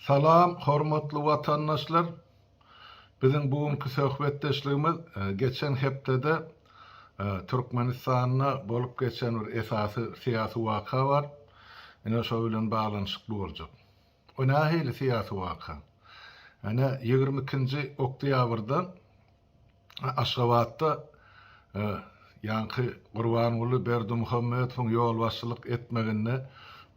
Salam, hormatly watandaşlar! Biziň bu günki söhbetdeşligimiz geçen hepdede Türkmenistanda bolup geçen bir esasy syýasy waka bar. Ine, şo bilen baglanyşykly boljak. O nähili syýasy waka? Ene, ýigrimi ikinji oktýabrda Aşgabatda ýaňky Gurbanguly Berdimuhamedowyň ýolbaşçylyk etmeginde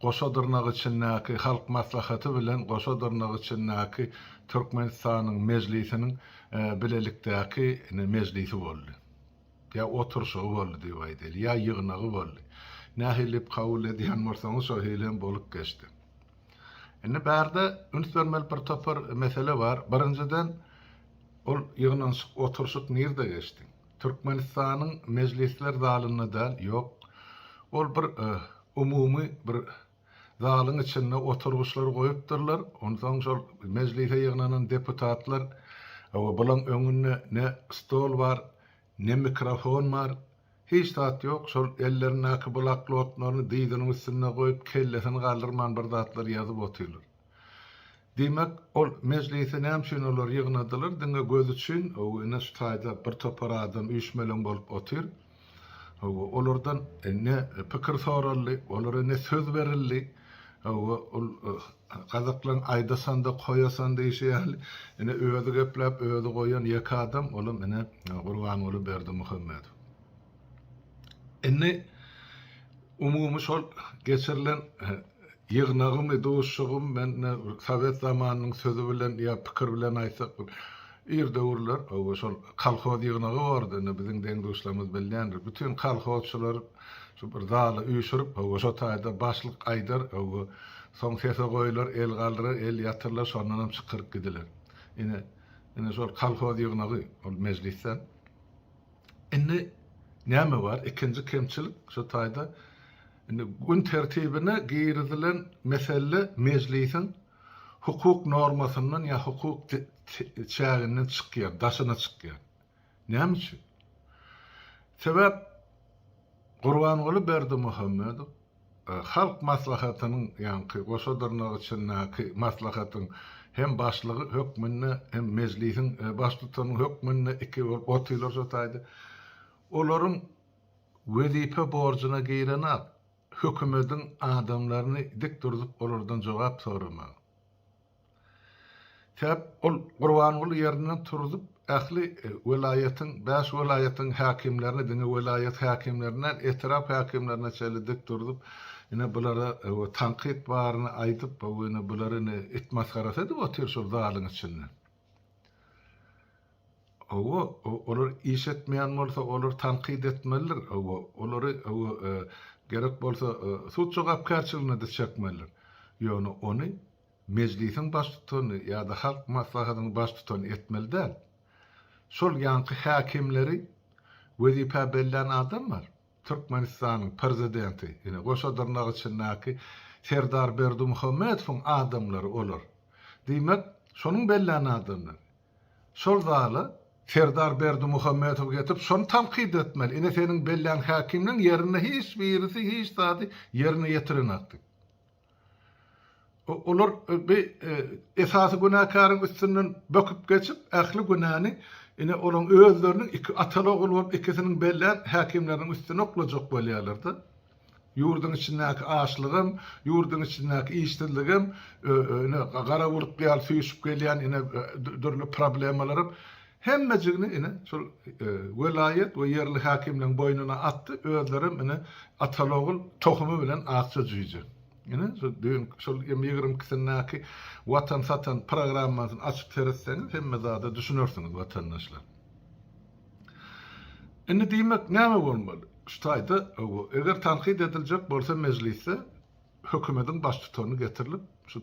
goşa dyrnak içindäki Halk Maslahaty bilen goşa dyrnak içindäki Türkmenistanyň Mejlisiniň bilelikdäki mejlisi boldy. Ýa oturyşygy boldy diýip aýdaýly, ýa ýygnagy boldy. Nähili kabul edýän bolsaňyz şo hili hem bolup geçdi. Indi bärde üns bermeli bir topar mesele bar. Birinjiden, ol ýygnanyşyk, oturyşyk nirde geçdi? Türkmenistanyň mejlisler zalynda däl, ýok. Ol bir umumy bir zalyň içinde oturgyçlar goýupdyrlar. Onsoň şol mejlise ýygnanan deputatlar, hawa, bulaň öňünde ne stol bar, Ne mikrofon bar, hiç zat ýok, şol ellerindäki blaklotlaryny dyzynyň üstünde goýup, kellesini galdyrman bir zatlar ýazyp otyrlar. Diýmek, ol mejlisi näme üçin olar ýygnadylar, diňe göz üçin, hawa, ine şu taýda bir topar adam üýşmeleň bolup otyr, hawa, olardan ne pikir soraldy, olara ne söz berildi, Hawa, ol gazaklaryň aýdasan-da, koýasan diýşi ýaly, ine, özi gepläp, özi goýan ýeke adam, olam, ine, Gurbanguly Berdimuhamedow. Indi, umumy şol geçirilen ýygnagymy, duşuşygymy men, ine, sowet zamanynyň sözi bilen ýa pikir bilen aýtsak, Ir döwürler oba şol kolhoz ýygnagy bardy, indi biziň deň-duşlarymyz bilýändir. Bütin kolhozçylar şu bir zala üýşürip, hawa, şo taýda başlyk aýdar, hawa, soň sese goýular, el galdyrar, el ýatyrlar, şondan hem çykyryp gidiler. Ine, ine şol kolhoz ýygnagy, ol mejlisden. Indi näme bar? Ikinji kemçilik şu taýda indi gün tertibine girizilen mesele mejlisiň hukuk normasyndan ýa hukuk çäginden çykýan, daşyna çykýan. Näme üçin? Sebäp Gurbanguly Berdimuhamedow Halk Maslahatynyň ýaňky goşa dyrnak içindäki maslahatyň hem başlygy hökmünde, hem mejlisiň baştutany hökmünde iki bolup otyrlar şu taýda. Olaryň wezipe borjuna girenok. Hökümediň adamlaryny dik durzup olardan jogap soramagy. Sebäp ol Gurbanguly ýerinden turzup ähli welaýatyň, bäş welaýatyň häkimlerini diňe welaýat häkimlerini däl, etrap häkimlerine çenli dik durzup ine bulara tankyt baryny aýdyp, bu ine bular ine it masgarasy edip otyr şol zalyň içinde. Hawa, olar iş etmeýän bolsa, olary tankyt etmelidir. Hawa, olary, hawa, gerek bolsa, sud jogapkärçiligine-de çekmelidir. Ýöne ony Mejlisiň baştutany ýa-da Halk Maslahatynyň baştutany etmeli däl. Şol ýaňky häkimleri wezipä bellän adam bar. Türkmenistanyň Prezidenti, ine, goşa dyrnak içindäki Serdar Berdimuhamedowyň adamlary olar. Diýmek, şonuň bellän adamlary. Şol zala Serdar Berdimuhamedow getirip, şony tankyt etmeli, ine, seniň bellän häkimleriň ýerinde hiç birisi hiç zady ýerine ýetirenok diýip. Olar bi esasy günäkäriň üstünden böküp geçip, ähli günäni ine, olaryň özleriniň iki ataly-ogul bolup ikisiniň bellän häkimleriniň üstüne oklajak bolýarlar-da. Ýurduň içindäki açlygam, ýurduň içindäki işsizligem, ine, gara bulut ýaly süýşüp gelýän, ine, dürli problemalaram. Hemmejigini ine, şol welaýat we ýerli häkimligiň boýnuna atdy, özlerem ine, ataly-ogul tohumy bilen akja jüýje. Ine, şol düýn, şol ýymy ýigrimi ikisindäki Watan satan programmasyny açyp seretseňiz, hemme zada düşünersiňiz, watandaşlar. Indi diýmek, näme bolmaly? Şu taýda, eger tankyt ediljek bolsa mejlisde, hökümediň baştutany getirilip, şu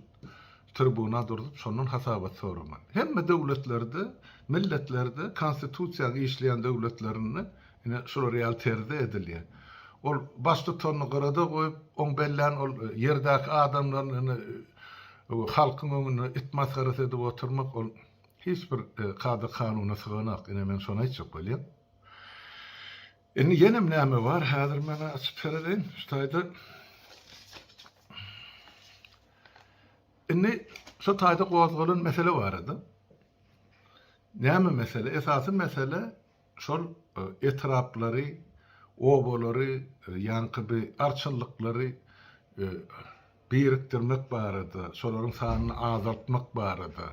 tribuna durzup, şondan hasabat soramaly. Hemme döwletlerde, milletlerde, konstitusiýa işleýän döwletlerinde ine şular ýaly terzde edilýär. Ol baştutanyny gyrada goýup, oň bellän ol ýerdäki adamlaryny ine halkyň öňünde it masgarasy edip oturmak ol hiç bir kada-kanuna syganok. Ine men şony aýtjak bolýan. Indi ýenem näme bar, häzir men açyp sereden, şu taýda. Indi şu taýda gozgalan mesele barada. Näme mesele? Esasy mesele şol e, etraplary, obalary, e, ýaňky bir arçynlyklary e, birikdirmek barada, şolaryň sanyny azaltmak barada,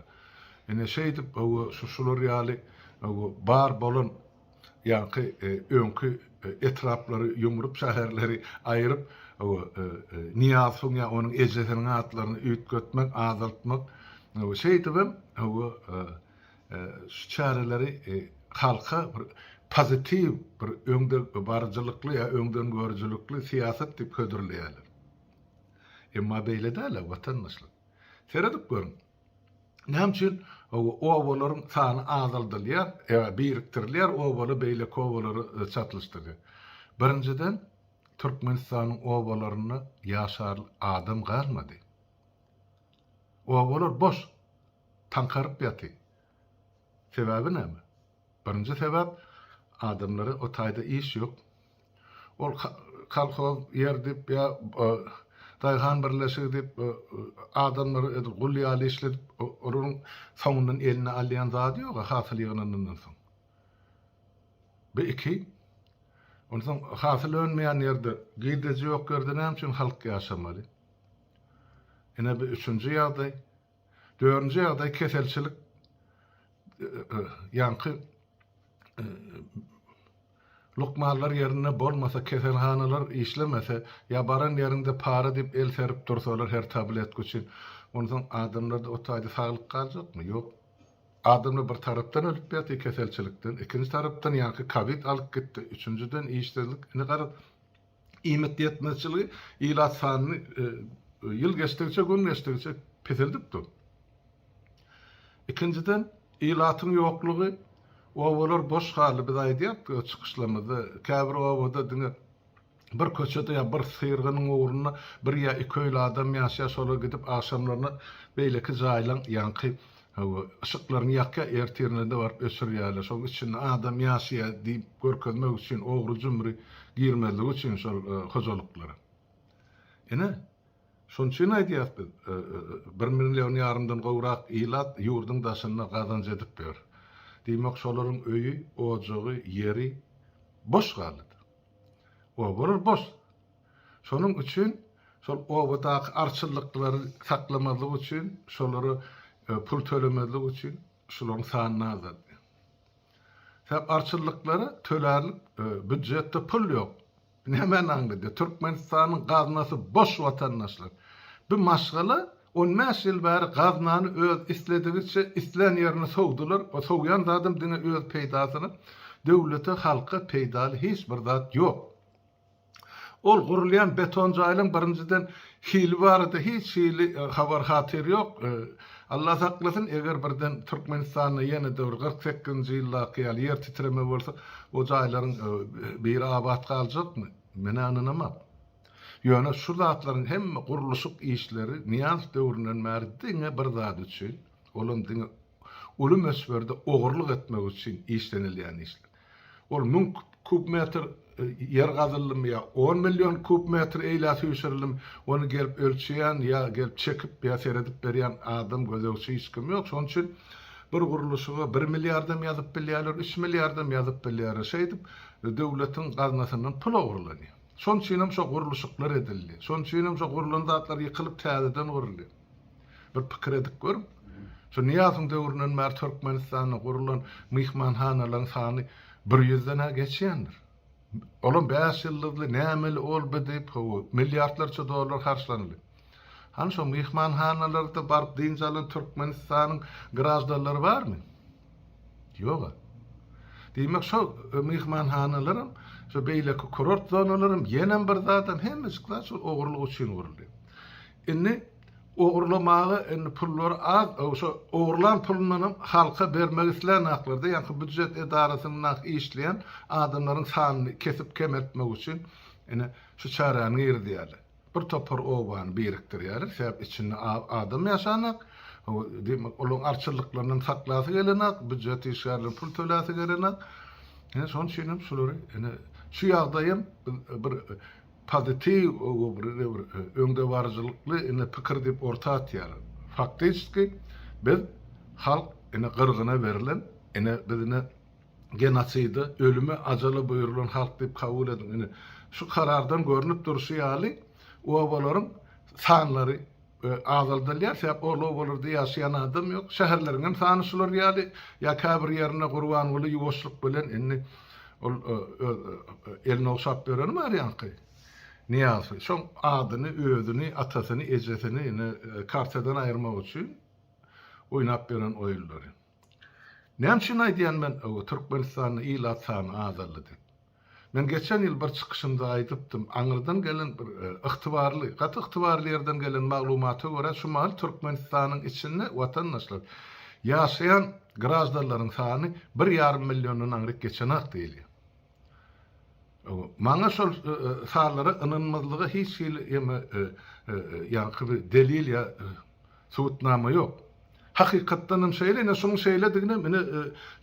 ine, şeýdip, hawa, şu, şular ýaly, hawa, bar bolan, ýaňky, öňki etraplary ýumrup, şäherleri aýryp, hawa, Nyýazowyň ýa onuň ejesiniň atlaryny üýtgetmek, azaltmak, hawa, şeýdibem, hawa, şu çäreleri halka bir pozitiw, bir öňdebaryjylykly ýa öňdengörüjilikli syýasat diýip hödürleýärler. Emma beýle däl-ä, watandaşlar. Seredip görüň, näme üçin obalaryň sany azaldylýar, birikdirilýär, obaly beýleki obalary çatlyşdyrýar. Birinjiden, Türkmenistanyň obalarynda ýaşar adam galmady. Obalar boş, taňkaryp ýaty. Sebäbi näme? Birinji sebäp, adamlara o taýda iş ýok. Ol kolhoz, ýerdip ýa daýhan birleşigi diýip adamlary edil gul ýaly işledip, olaryň soňundan eline alýan zady ýog-a hasyl ýygnanandan soň. Bu iki. Onsoň hasyl önmeýän ýerde, girdeji ýok ýerde näme üçin halk ýaşamaly? Ine bu üçünji ýagdaý. Dördünji ýagdaý keselçilik ýaňky lukmanlar ýerinde bolmasa, keselhanalar işlemese, ýa baran ýeriňde para diýip el serip dursalar her tabletka üçin, onsoň adamlarda o taýda saglyk galjakmy? Ýok. Adamlar bir tarapdan ölüp ýatyr keselçilikden, ikinji tarapdan ýaňky kowid alyp gitdi, üçünjiden işsizlik. Indi garaz, iýmit ýetmezçiligi ilat sanyny ýyl geçdigiçe, gün geçdigiçe peseldip dur. Ikinjiden, ilatyň ýoklugy, obalar boş galdy. Biz aýdýardyk öz çykyşlarymyzda, käbir obada diňe bir köçede ýa bir syrgynyň ugrunda bir ýa iki öýli adam ýaşaýar, şolar gidip agşamlaryna beýleki jaýlaň ýaňky Hawa, yşyklaryňy ýakýa, ertirine-de baryp öçürýärler. Şoň içinde adam ýaşaýa diýip görkezmek üçin, ogry-jümri girmezligi üçin şol hojalyklara. Ine, şoň üçin aýdýas biz, bir million ýarymdan gowrak ilat ýurduň daşynda gazanç edip ýör. Diýmek, şolaryň öýi, ojagy, ýeri boş galdy. Obalar boş. Şonuň üçin şol obadaky arçylyklary saklamazlyk üçin, şolara pul tölemezlik üçin şularyň sanyny azaltdy. Sebäp arçylyklara tölärlik býujetde pul ýok. Nämäni aňladýar? Türkmenistanyň gaznasy boş watandaşlar. Bu maşgala on bäş ýyl bäri gaznany öz isledigiçe islän ýerine sowdular. O sowýan zadam diňe öz peýdasyna. Döwlete, halka peýdaly hiç bir zat ýok. Ol gurulýan beton jaýlaryň birinjiden hili barada hiç hili habar-hatyr ýok. Allah saklasyn, eger birden Türkmenistanda ýene-de bir kyrk sekizinji ýyldaky ýaly ýer titreme bolsa, o jaýlaryň biri abat galjakmy? Men-ä ynanamok. Ýöne şu zatlaryň hemme gurluşyk işleri Nyýazow döwründen bäri diňe bir zat üçin, olam diňe uly möçberde ogurlyk etmek üçin işlenilýän işler. Ol müň kub metr ýer gazyldymy ýa on million kub metr eýlä süýşürildim, ony gelip ölçeýän ýa gelip çekip ýa seredip berýän adam, gözegçi hiç kim ýok. Şonuň üçin bir gurluşyga bir milliardam ýazyp bilýärler, üç milliardam ýazyp bilýärler. Şeýdip, döwletiň gaznasyndan pul ogurlanýar. Şonuň üçinem şo gurluşyklar edildi. Şonuň üçinem şo gurlan zatlar ýykylyp täzeden gurulýar. Bir pikir edip görüň, şu Nyýazowyň döwründen bäri Türkmenistanda gurlan myhmanhanalaryň sany bir ýüzden-ä geçýändir. Olam bäş ýyldyzly, nämeli olby diýip, hawa, milliardlarça dollar harçlanyldy. Hany şo myhmanhanalarda baryp dynç alan Türkmenistanyň graždanlary barmy? Ýog-a. Diýmek, şo myhmanhanalaram, şo beýleki kurort zonalaram ýenem bir zadam, hemmejik zat şol ogurlyk üçin guruldy. Indi ogurlamaga indi pullary az şo ogurlan pulundanam halka bermek isleýänaklarda ýaňky býujet edarasynda işleýän adamlaryň sanyny kesip kemeltmek üçin indi şu çäräni girizýärler. Bir topar obany birikdirýärler sebäp içinde az adam ýaşanak we diýmek olaryň arçylyklaryndan saklasy gelenak býujet işgärleriniň pul töläsi gelenak indi şonuň üçinem şulary indi şu ýagdaýam bir pozitiw öňdebaryjylykly ine pikir diýip orta atýar. Faktiçki biz halk ine gyrgyna berlen ine biz ine genoside ölüme ajala buýrulan halk diýip kabul ediň ine şu karardan görnüp durşy ýaly obalaryň sanlary we azaldylýar, sebäp olarlarda ýaşaýan adam ýok. Şäherleriň hem sany şular ýaly, ýa käbir ýerinde Gurbanguly ýuwaşlyk bilen indi ol öz elini ogşap bereni bar ýaňky Nyýazowy, şoň adyny, özüni, atasyny, ejesini indi kartadan aýyrmak üçin oýnap beren oýunlary. Näme üçin aýdýan men Türkmenistanda ilat sany azaldy diýip. Men geçen ýyl bir çykyşymda aýdypdym, aňyrdan gelen bir ygtybarly, gaty ygtybarly ýerden gelen maglumata görä şu mahaly Türkmenistanyň içinde watandaşlar, ýaşaýan graždanlaryň sany bir ýarym milliondan aňryk geçenak diýilýär. Maňa şol sazlara ynanmazlyga hiç hili ýaňky bir delil ýa subutnama ýok. Hakykatdanam şeýle, ine şunuň şeýlediginem ine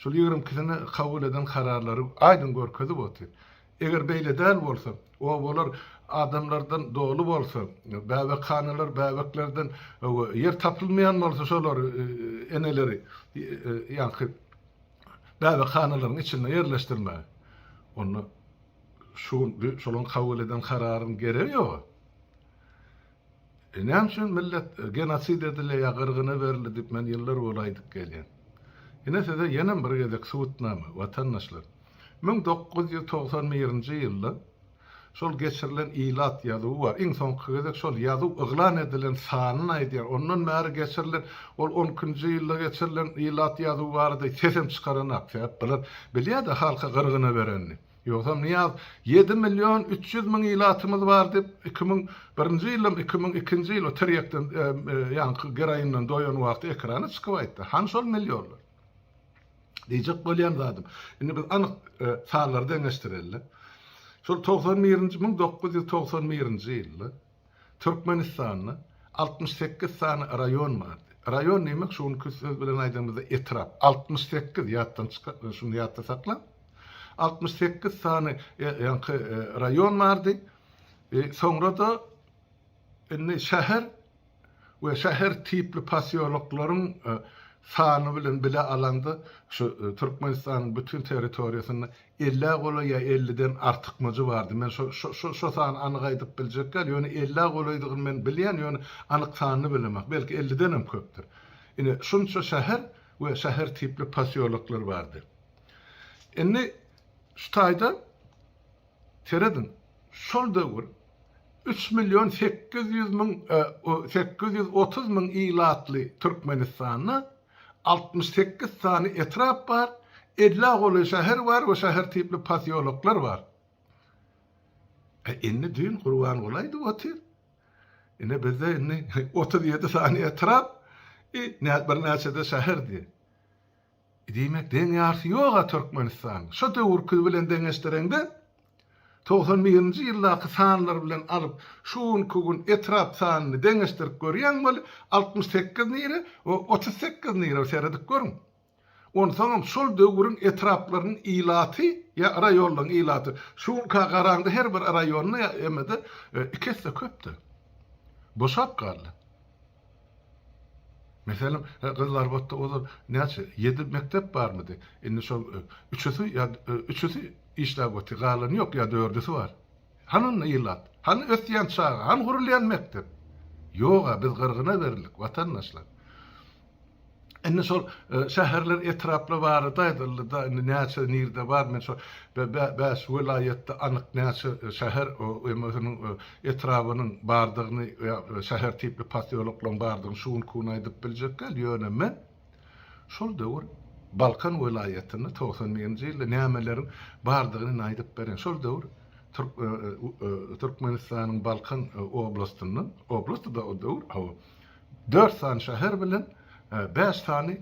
şol ýigrimi ikisine kabul eden kararlary aýdyň görkezip otyr. Eger beýle däl bolsa, obalar adamlardan doly bolsa, bäbekhanalar bäbeklerden ýer tapylmaýan bolsa şolary eneleri ýaňky gäwehanalaryň içinde ýerleşdirmegi, onda şu gün şolaryň kabul eden kararynyň geregi ýok-a. E, näme üçin millet genosid edilýär ýa gyrgyna berildi diýip men ýyllar bol aýdyp gelýän. Ine size ýenem bir gezek subutnama, watandaşlar. Müň dokuz ýüz togsan birinji ýylda Şol geçirilen ilat ýazuwy bar. Iň soňky gezek şol ýazuw yglan edilen sanyny aýdýar. Ondan bäri geçirilen, ol on ikinji ýylda geçirilen ilat ýazuwy barada sesem çykaranak. Sebäp bular bilýär-de halka gyrgyna berenini. Ýogsam Nyýaz ýedi million üç ýüz müň ilatymyz bar diýip, iki müň birinji ýyldam, iki müň ikinji ýyl o tirýekden, ýaňky geroindan doýan wagty ekrana çykyp aýtdy. Hany şol millionlar? Diýjek bolýan zadym, indi biz anyk sanlary deňeşdireli. Şol togsan birinji, müň dokuz ýüz togsan birinji ýylda Türkmenistanda altmyş sekiz sany raýon bardy. Raýon diýmek, şu günki söz bilen aýdanymyzda etrap. Altmyş sekiz, ýatdan çykarma, şuny ýatda sakla. Altmyş sekiz sany ýaňky raýon bardy. Soňra-da Indi şäher we şäher tipli posýoloklaryň sany bilen bile alanda, şu Türkmenistanyň bütin territoriýasynda ellä golaý ýa elliden artykmajy bardy. Men şo şo sany anyk aýdyp biljek däl, ýöne ellä golaýdygyny men bilýän, ýöne anyk sanyny bilemek. Belki ellidenem köpdür. Ine, şunça şäher we şäher tipli posýoloklar bardy. Indi şu taýda Serediň, şol döwür üç million sekiz ýüz müň sekiz ýüz otuz müň ilatly Türkmenistanda altmyş sekiz sany etrap bar, ellä golaý şäher bar we şäher tipli posýoloklar bar. Indi düýn Gurbanguly aýdyp otyr, ine bizde indi otuz ýedi sany etrap, birnäçe-de şäher diýýär. Diýmek deň ýarysy ýoga Türkmenistan şo döwürki bilen deňeşdireňde togsan birinji ýyldaky sanlar bilen alyp şu günki gün etrap sanyny deňeşdirip görýäň weli altmyş sekiz nire we otuz sekiz nire seredip görüň onsaňam şol döwüriň etraplarynyň ilaty ýa raýonlaryň ilaty şu günka garaňda her bir raýonda ýa emede iki esse köpde boşap galdy. Meselem, gyzlar otda ozal näçe, ýedi mekdep barmydy? Indi şol üçüsi ýa üçüsi işläp otyr, galany ýok ýa dördüsi bar. Hany onda ilat? Hany ösýän çaga? Hany gurulýan mekdep? Ýog-a, biz gyrgyna berildik, watandaşlar. Indi şol şäherler, etraplar barada aýdyldy-da, indi näçe nirde bar, men şo bäş welaýatda anyk näçe şäher, ýömeseniň etrabynyň bardygyny ýa şäher tipli posýoloklaryň bardygyny şu günki gün aýdyp biljek däl, ýöne men şol döwür Balkan welaýatynda togsan birinji ýylda nämeleriň bardygyny indi aýdyp bereýin. Şol döwür Türkmenistanyň Balkan oblastyndan, oblastdy-da o döwür, hawa, Dört sany şäher bilen bäş sany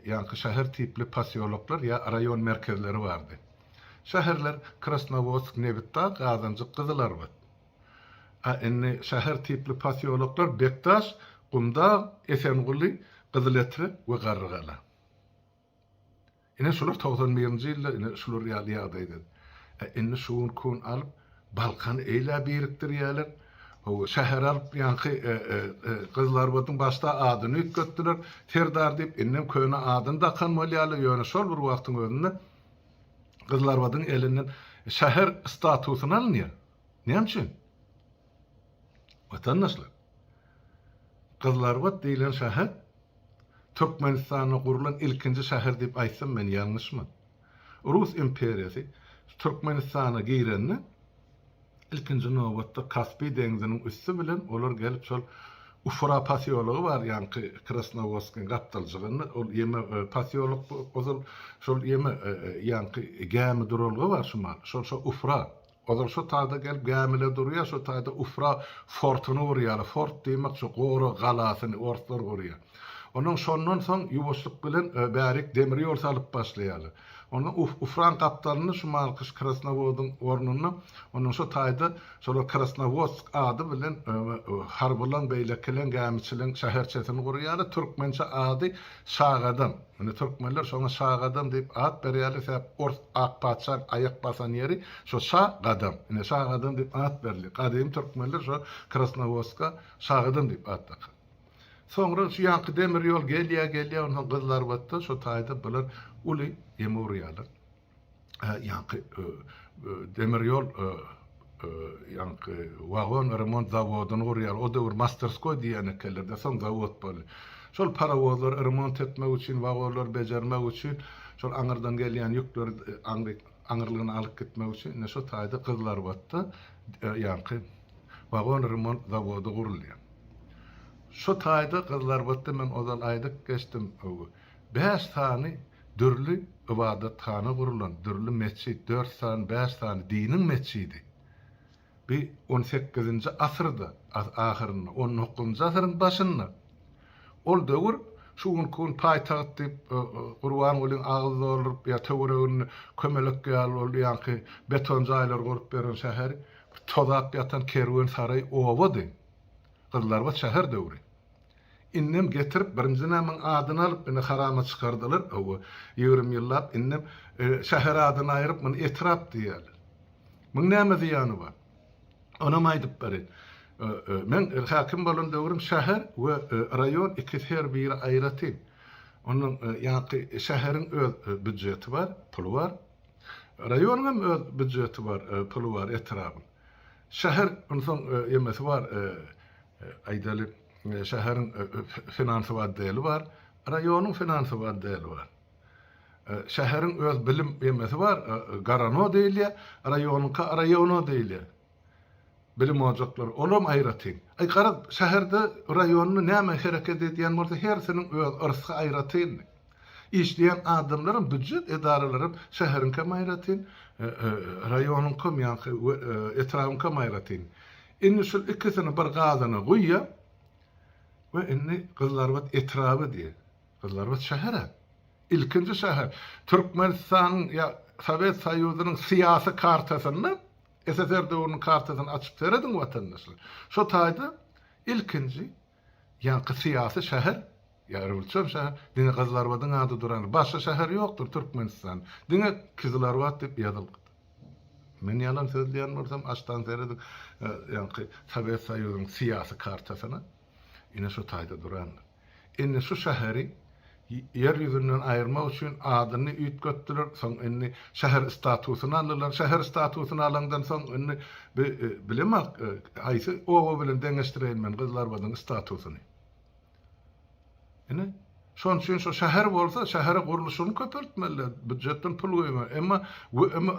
ýaňky şäher tipli posýoloklar ýa raýon merkezleri bardy. Şäherler Krasnowodsk, Nebitdag, Gazanjyk, Gyzylarbat. A indi şäher tipli posýoloklar Bekdaş, Gumdag, Esenguly, Gyzyletrek we Garrygala. Ine şular togsan birinji ýylda ine şular ýaly ýagdaýda. Ä indi şu gün kun alyp Balkany eýlä birikdirýäler. Hawa şäher alyp ýaňky gyzlarymyzyň başda adyny üýtgetdiler. Serdar diýip indem köne adyny dakan bolýalar. Ýöne şol bir wagtyň özünde gyzlarymyzyň elinden şäher statusyny alynýar. Näme üçin? Watandaşlar. Gyzlarbat diýlen şäher Türkmenistanda gurlan ilkinji şäher diýip aýtsam men ýalňyşmyn. Rus imperiýasy Türkmenistana girende ilkinji nobatda Kaspi deňziniň üsti bilen olar gelip şol Ufra posýology bar ýaňky Krasnowodskiň gapdaljygynda ol ýeme posýolok ozal şol ýeme ýaňky gämi duralga bar şumal şol şo Ufra Ozal şo taýda gelip gämile durýar, şo taýda Ufra fortuny gurýarlar. Fort diýmek şo gorag galasyny orslar gurýar. Ondan şondan soň ýuwaşlyk bilen bärik demir ýol salyp başlaýarlar. Onda Ufraň gapdalyny şu malkyş Krasnowodyň ornuna ondan şo taýda şolar Krasnowodsk ady bilen harbylaň, beýlekileň, gämiçileň şäherçesini gurýarlar. Türkmençe ady Şagadam, muny türkmenler şoňa Şagadam diýip at berýärler, sebäp ors ak patyşaň aýak basan ýeri şo Şa gadam. Ine Şagadam diýip at berilýär. Gadymy türkmenler şo Krasnowodska Şagadam diýip at dakan. Soňra şu ýanky demir ýol gelýär, gelýär, onsoň gyzlarbatda şo taýda bular uly ýeme urýarlar. ýaňky demir ýol ýaňky wagon remont zawodyny gurýarlar. O döwür masterskoý diýen ekenler-de, soň zawod boldy. Şol parowozlary remont etmek üçin, wagonlary bejermek üçin, şol aňyrdan gelýän ýükleri aňry aňyrlygyna alyp gitmek üçin ine şo taýda Gyzylarbatda ýaňky wagon remont zawody gurulýar. Şo taýda Gyzylarbatda men ozal aýdyp geçdim, bäş sany Dürli ybadathana gurulan, dürli metjit, dört sany, bäş sany diniň metjidi. Bi on sekizinji asyrda, ahyrynda, on dokuzynjy asyryň başynda. Ol döwür şu günki gün paýtagt diýip Gurbangulyň agyz dolduryp ýa töweregini kömelek ýaly ol ýaňky beton jaýlar gurup beren şäheri tozap ýatan kerwensaraý obady. Gyzlarbat şäher döwri. Indem getirip birinji namyň adyny alyp indi harama çykardylar hawa ýigrimi ýyllap indem şäher adyny aýryp muny etrap diýýäler. Muň näme zyýany bar? Onam aýdyp berin. Meň häkim bolan döwrüm şäher we raýon ikisi her biri aýratyn. Onuň ýaňky şäheriň öz býujeti bar, puly bar. Raýonyňam öz býujeti bar, puly bar etrabyň. Şäher onsoň emesi bar, aýdaly, şäheriň finansow otdeli bar, raýonyň finansow otdeli bar. Şäheriň öz bilim emesi bar, garano diýilýär, raýonyňka raýono diýilýär. Bilim ojaklary, olam aýratyn. Aý, garaz, şäherde, raýonda näme hereket edýän bolsa, hersiniň öz yrsy aýratyndy. Işleýän adamlaram, býujet edaralaram şäheriňkem aýratyn, raýonyňkam ýa-da etrabyňkam aýratyn. Indi şul ikisini bir gazana guýýa we indi Gyzylarbat etraby diýýä. Gyzylarbat şäher-ä. Ilkinji şäher. Türkmenistanyň ýa Sowet Soýuzynyň syýasy kartasynda, SSR döwrüniň kartasyny açyp serediň watandaşlar. Şo taýda ilkinji Ýaňky syýasy şäher, ýa rewolýusion şäher, diňe Gyzylarbadyň ady durandyr. Başga şäher ýokdur Türkmenistan. Diňe Kyzylarbat diýip ýazylypdyr. Men ýalan sözleýän bolsam, aşdan serediň, ýaňky Sowet Soýuzynyň syýasy kartasyna, ine şu taýda durandyr. Indi şu şäheri Ýer ýüzünden aýyrmak üçin adyny üýtgetdiler. Soň indi şäher statusyny aldylar. Şäher statusyny alandan soň indi bi bilemok, haýsy oba bilen deňeşdireýin men Gyzlarbadyň statusyny. Ine, şonuň üçin şo şäher bolsa, şähere gurluşygyny köpeltmeliler, býujetden pul goýmaly. Emma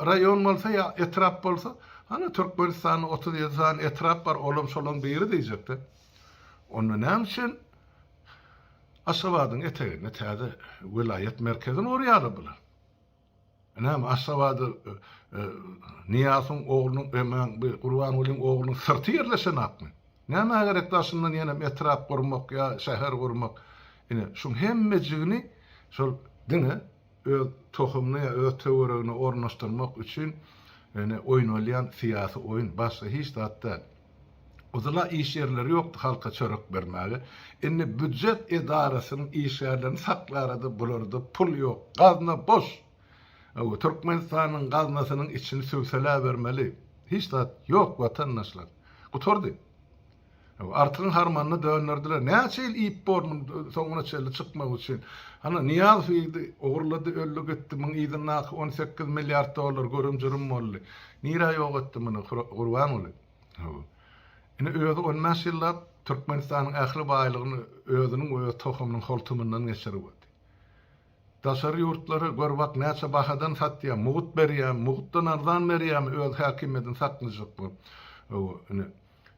raýon bolsa ýa etrap bolsa, hany Türkmenistanda otuz ýedi sany etrap bar, olam şolaň biri diýjek-de. Onda näme üçin? Aşgabadyň eteginde täze welaýat merkezi nur ýalydylar. Näme Aşgabada Nyýasyň oglunyň emäň bu Gurbangulyň oglunyň syrty ýerleşenakmy? Nämä gerek daşyndan ýenem etrap gurmak ýa şäher gurmak? Ine şuň hemmejigini şol diňe öz tohumyny ýa öz töweregine ornaşdyrmak üçin ýöne oýnalýan syýasy oýun, başga hiç zat däl. Yzyla iş ýerleri ýokdy halka çörek bermäge. Indi býujet edarasynyň işgärlerini saklarada bularda pul ýok, gazna boş. Hawa, Türkmenistanyň gaznasynyň içini süwseläbermeli. Hiç zat ýok watandaşlar. Gutardy. Artygyň harmanyny dönderdiler. Näçe ýyl iýip bor muny soňuna çenli çykmak üçin. Ana, Nyýazow iýdi, ogurlady, öldi gitdi. Muň yzyndaky on sekiz milliard dollar görüm-jürüm boldy. Nirä ýok etdi muny Gurbanguly? Hawa. Ine, özi on bäş ýyllap Türkmenistanyň ähli baýlygyny özüniň we öz tohumynyň holtumyndan geçiribodi. Daşary ýurtlara gör bak, näçe bahadan satýar, mugut berýärmi, mugutdan arzan berýärmi öz häkimiýetini saklyjak bolup. Hawa, ine.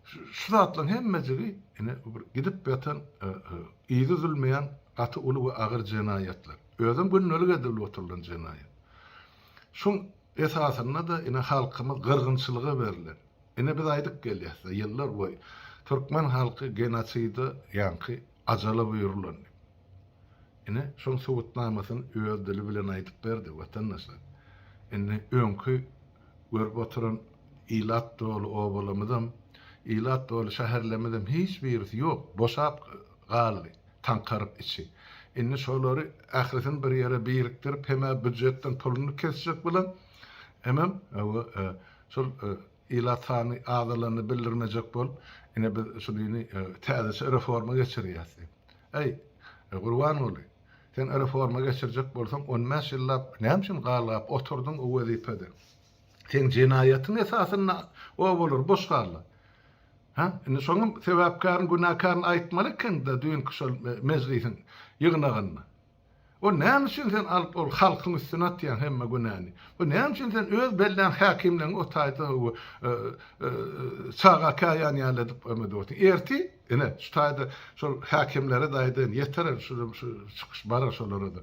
Şu zatlaryň hemmejigi ine bu bir gidip ýatan yzy üzülmeýän gaty uly we agyr jenaýatlar. Özem gündelik edilip oturylan jenaýat. Şuň esasynda-da ine halkymyz gyrgynçylyga berlen. Ine biz aýdyp gelýäs-de ýyllar boýy türkmen halky genoside ýaňky ajala buýrulan diýip. Ine şoň subutnamasyny öz dili bilen aýdyp berdi watandaşlar. Indi öňki Görüp oturan ilat doly obalamyzam, ilat doly şäherlemizem hiç birisi ýok, boşap galdy, taňkaryp içi. Indi şolary ählisini bir ýere birikdirip hem-ä býujetden puluny kesjek bilen, hemem we şol ilat sany azalanyny bildirmejek bolup, ine biz şu dini täzeçe reforma geçirýäs diýip. Äý, Gurbanguly! Sen reforma geçirjek bolsaň, on bäş ýyllap näme üçin galgap oturdyň o wezipede? Seň jenaýatyň esasynda obalar boş galdy. Hä? Indi şoňam sebäpkäriň, günäkäriň aýtmaly ekeniň-dä düýnki şol mejlisiň ýygnagynda. O näme üçin sen alyp ol halkyň üstüne atýaň hemme günäni? Bu näme üçin sen öz bellän häkimleň o taýda çaga käýan ýaly edip emedip otyrsyň? Ertir Ine, şu taýda şol häkimlere-de aýdaýyn, ýeter şu şu şu çykyş bar-a şolara-da.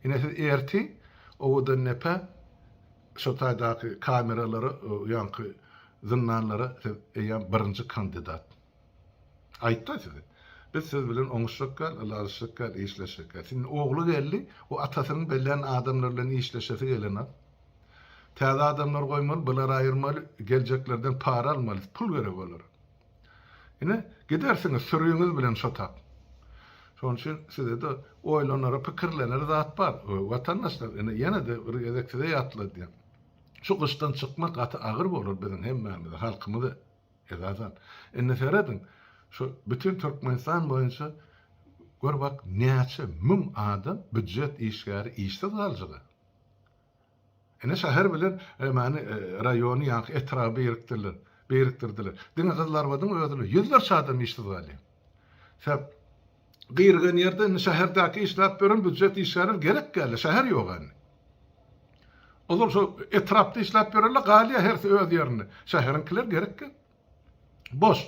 Ine, siz ertir owadandepe şo taýdaky kameralara, o ýanky zyndanlara siz eýýäm birinji kandidat. Aýtdy-a size. Biz siz bilen oňuşjak däl, ylalaşjak däl, işleşjek däl. Siziň ogly geldi, o atasynyň bellän adamlar bilen işleşesi gelen-a. Täze adamlar goýmaly, bulary aýyrmaly, geljeklerden para almaly, pul gerek olara. Ine, gidersiňiz sürüňiz bilen şotap. Şonuň üçin size-de oýlanara, pikirlenere zat bar. Watandaşlar, ine, ýene-de bir gezek size ýatladýan. Şu gyşdan çykmak gaty agyr bolar biziň hemmämize, halkymyza esasan. Indi serediň, şu bütin Türkmenistan boýunça gör bak, näçe müň adam býujet işgäri işsiz galjag-a. Ine şäher bilen emani raýony ýaňky etraby birikdirler, birikdirdiler. Diňe Gyzylarbadyň özüne ýüzlerçe adam işsiz galýar. Sebäp gyrygan ýerde indi şäherdäki işläp ýören býujet işgärleri gerek däldi, şäher ýok indi. Olar şo etrapda işläp ýörerler, galýar hersi öz ýerinde. Şäheriňkiler gerek däl. Boş!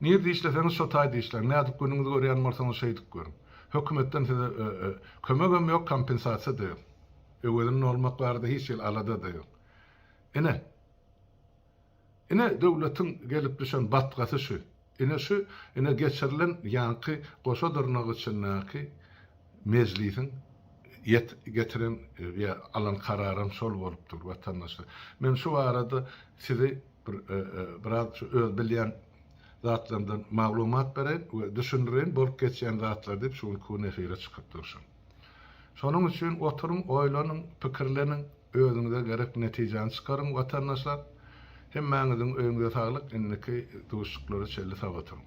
Nirde işleseňiz şo taýda işläň, nädip günüňizi görýän bolsaňyz şeýdip görüň. Hökümetden size kömegem ýok, kompensasiýa-da ýok. Öwezini nolmak barada hiç hili alada-da ýok. Ine, ine döwletiň gelip düşen batgasy şu. Ine şu, ine geçirilen ýaňky goşa dyrnak içindäki mejlisiň ýet getiren ýa alan kararam şol bolup dur, watandaşlar. Men şu barada sizi, Bir biraz şu öz bilýän zatlarymdan maglumat bereýin we düşündireýin bolup geçýän zatlar diýip şu gün kun efire çykyp durşum. Şonuň üçin oturyň oýlanyň, pikirleniň, özüňize gerek netijäni çykaryň watandaşlar. Hemmäňiziň öýüňize saglyk indiki duşuşyklara çenli sag oturyň.